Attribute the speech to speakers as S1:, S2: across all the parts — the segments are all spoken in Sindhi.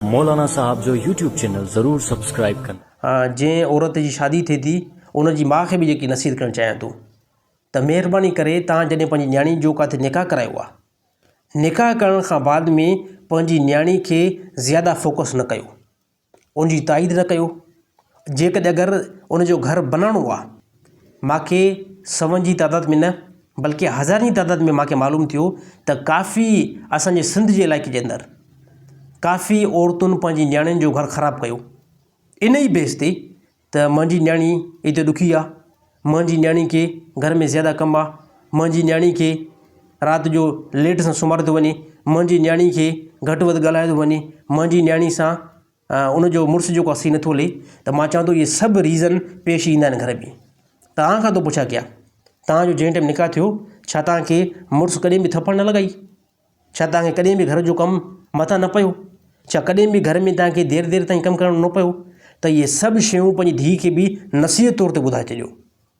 S1: مولانا صاحب جو يوٽيوب چينل ضرور سبسڪرائب ڪن. جنهن عورت جي
S2: شادي ٿئي ٿي ان جي ماء کي به جيڪي نصيحت ڪرڻ چاهيان ٿو ته مهرباني ڪري توهان جڏهن پنهنجي نياڻي جو ڪاٿي نڪاح ڪرايو آ نڪاح ڪرڻ کان بعد ۾ پنهنجي نياڻي کي زياده فوڪس نه ڪيو ان جي تائيد نه ڪيو جيڪڏهن اگر ان جو گهر بناڻو آ ماکي سون جي تعداد ۾ نه بلڪه هزارن جي تعداد ۾ ماکي معلوم ٿيو ته ڪافي اسانجي سنڌ جي علائقي جي اندر ڪافي عورتن پنهنجي نياڻين جو گهر خراب ڪيو ان ئي بيس تي ته منهنجي نياڻي ايتري ڏکي آ منهنجي نياڻي کي گهر ۾ زياده ڪم آ منهنجي نياڻي کي رات جو ليٽ سان سمهاريو ٿو وڃي منهنجي نياڻي کي گهٽ وڌ ڳالهايو ٿو وڃي منهنجي نياڻي سان ان جو مڙس جيڪو آهي سي نٿو لھي ته مان چوان ٿو اهي سڀ ريزن پيش ايندا آهن گھر ۾ توهان کان ٿو پڇان ڪيا توهان جو جنهن ٽيم نڪاح ٿيو ڇا توهان کي مڙس ڪڏهن به ٿڦڙ نه لڳائي ڇا توهان کي ڪڏهن به گھر جو ڪم مٿان نه پيو ڇا ڪڏهن به گھر ۾ توهان کي دير دير تائين ڪم ڪرڻو نه پيو ته اهي سڀ شيون پنهنجي ڌيء کي به نصيحت طور تي ٻڌائي ڇڏيو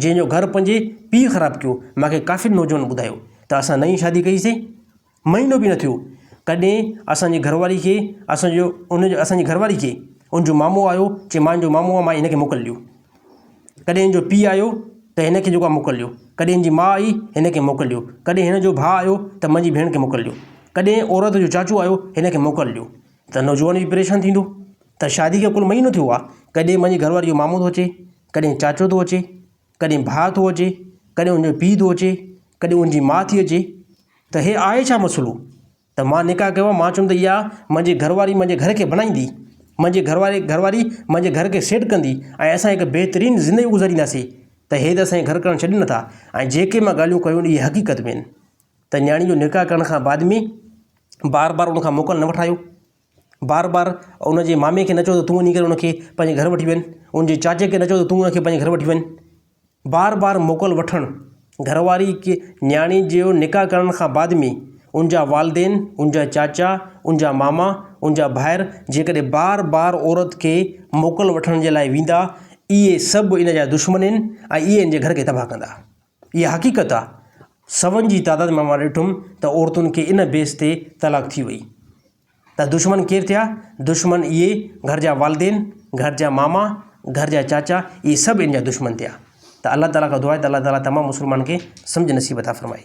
S2: جنهن جو گهر پنهنجي پيء خراب ڪيو. مان کي ڪافين نوجوانن ٻڌايو ته اسان نئين شادي ڪئي سي. مهينو به نه ٿيو ڪڏهن اسان جي گهر واري کي اسان جو ان جو اسان جي گهر واري کي ان جو مامو آيو چي مان جو مامو آ مان هن کي موڪل ڏيو. ڪڏهن ان جو پيء آيو ته هن کي جيڪو آ موڪل ڏيو. ڪڏهن هن جي ماء آئي هن کي موڪل ڏيو. ڪڏهن هن جو ڀاء آيو ته منهنجي ڀيڻ کي موڪل ڏيو. ڪڏهن عورت جو چاچو آيو هن کي موڪل ڏيو. ته نوجوان به پريشان ٿيندو ته شادي کي ڪل مهينو ٿيو آ ڪڏهن منهنجي گهر واري جو مامو ٿو اچي ڪڏهن چاچو ٿو اچي، ڪڏهن ڀاء ٿو اچي، ڪڏهن ان جو پيء ٿو اچي، ڪڏهن ان جي ماء ٿي اچي ته هي آهي ڇا مسئلو؟ ته مان نڪاح ڪيو آهي، مان چيم ته اها منهنجي گهر واري منهنجي گهر کي بڻائيندي، منهنجي گهر واري گهر واري منهنجي گهر کي سيٽ ڪندي ۽ اسان هڪ بهترين زندگي گذارينداسين ته هي ته اسانکي گهر ڪرڻ ڇڏين نٿا ۽ جيڪي مان ڳالهيون ڪيون اهي حقيقت ۾ آهن ته نياڻي جو نڪاح ڪرڻ کان بعد ۾ بار بار ان کان موڪل نه وٺايو بار بار ان جي مامي کي نه چئو ته تون وڃي ڪري ان کي پنهنجي گهر وٺي وڃ ان جي چاچي کي نه چئو ته تون ان کي پنهنجي گهر وٺي وڃ بار بار موڪل وٺڻ گهر واري کي نياڻي جو نڪاح ڪرڻ کان بعد ۾ ان جا والدين ان جا چاچا ان جا ماما ان جا ڀائر جيڪڏهن بار بار عورت کي موڪل وٺڻ جي لاء ويندا اهي سڀ ان جا دشمن آهن ۽ اهي ان جي گهر کي تباهه ڪندا اها حقيقت آ. سون جي تعداد مان مان ڏٺم ته عورتن کي ان بيس تي طلاق ٿي وئي ته دشمن ڪير ٿيا؟ دشمن اهي گهر جا والدين، گهر جا ماما، گهر جا چاچا اهي سڀ ان جا دشمن ٿيا ته الله تعالي کان دعا آهي ته الله تعالي تمام مسلمانن کي سمجهه نصيب عطا فرمائي.